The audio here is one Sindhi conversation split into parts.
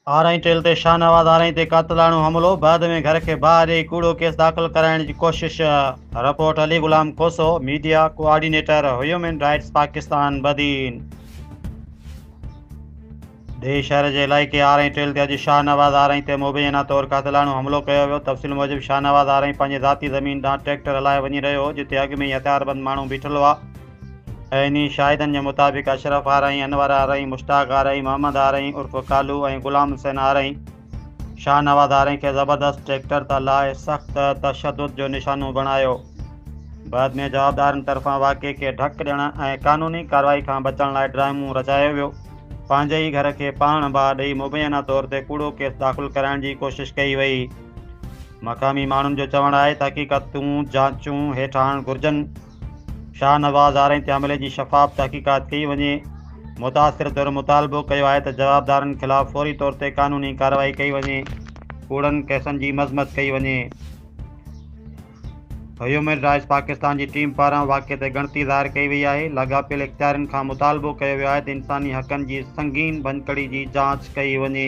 آرائين ٽيل تي شاهنواز آرائين تي قاتلاڻو حملو، بعد ۾ گهر کي باهه ڏئي ڪوڙو ڪيس داخل ڪرائڻ جي ڪوشش، report Ali Ghulam Khoso, media coordinator human rights Pakistan Badin. ڊيهه شهر جي علائقي آرائين ٽيل تي اڄ شاهنواز آرائين تي مبينا طور قاتلاڻو حملو ڪيو ويو، تفصيل موجب شاهنواز آرائين پنهنجي ذاتي زمين ڏانهن ٽريڪٽر هلائي وڃي رهيو هو جتي اڳ ۾ ئي هٿياربند ماڻهو بيٺل هئا، اهي انهي شاهدن جي مطابق اشرف آرائين، انور آرائين، مشتاق آرائين، محمد آرائين عرف ڪالو ۽ غلام حسين آرائين شاهنواز آرائين کي زبردست ٽريڪٽر تان لاهي سخت تشدد جو نشانو بڻايو. بعد ۾ جوابدارن طرفان واقعي کي ڍڪ ڏيڻ ۽ قانوني ڪارروائي کان بچڻ لاء ڊرامو رچايو ويو. پنهنجي ئي گهر کي پاڻ باهه ڏئي مبينا طور تي ڪوڙو ڪيس داخل ڪرائڻ جي ڪوشش ڪئي وئي. مقامي ماڻهن جو چوڻ آهي ته حقيقتون جانچون هيٺ آڻڻ گهرجن. شاهه نواز آرائين تي حملي جي شفاف تحقيقات ڪئي وڃي، متاثر ڌر مطالبو ڪيو آهي ته جوابدارن خلاف فوري طور تي قانوني ڪارروائي ڪئي وڃي، ڪوڙن ڪيسن جي مذمت ڪئي وڃي. هيومن رائٽس پاڪستان جي ٽيم پاران واقعي تي ڳڻتي ظاهر ڪئي وئي آهي، لاڳاپيل اختيارين کان مطالبو ڪيو ويو آهي ته انساني حقن جي سنگين ڀڃڪڙي جي جاچ ڪئي وڃي.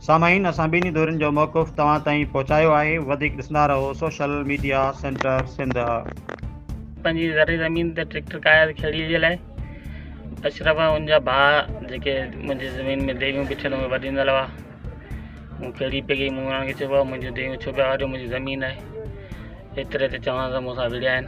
سامعين اسان ٻنهي ڌرين جو موقف توهان تائين پهچايو آهي وڌيڪ ڏسندا رهو سوشل ميڊيا سينٽر سنڌ. پنهنجي زرعي زمين تي ٽريڪٽر ڪاياس کيڙيء جي لاء. اشرف ۽ ان جا ڀاء جيڪي منهنجي زمين ۾ ديون بڇن اهي وڍيندل هئا. مون کيڙي پئي گئي، مون انهن کي چيو، ڀاء منهنجون ديون ڇو پيا وڍيو، منهنجي زمين آهي. ايتري تي چوڻ ته مون سان وڙهيا آهن.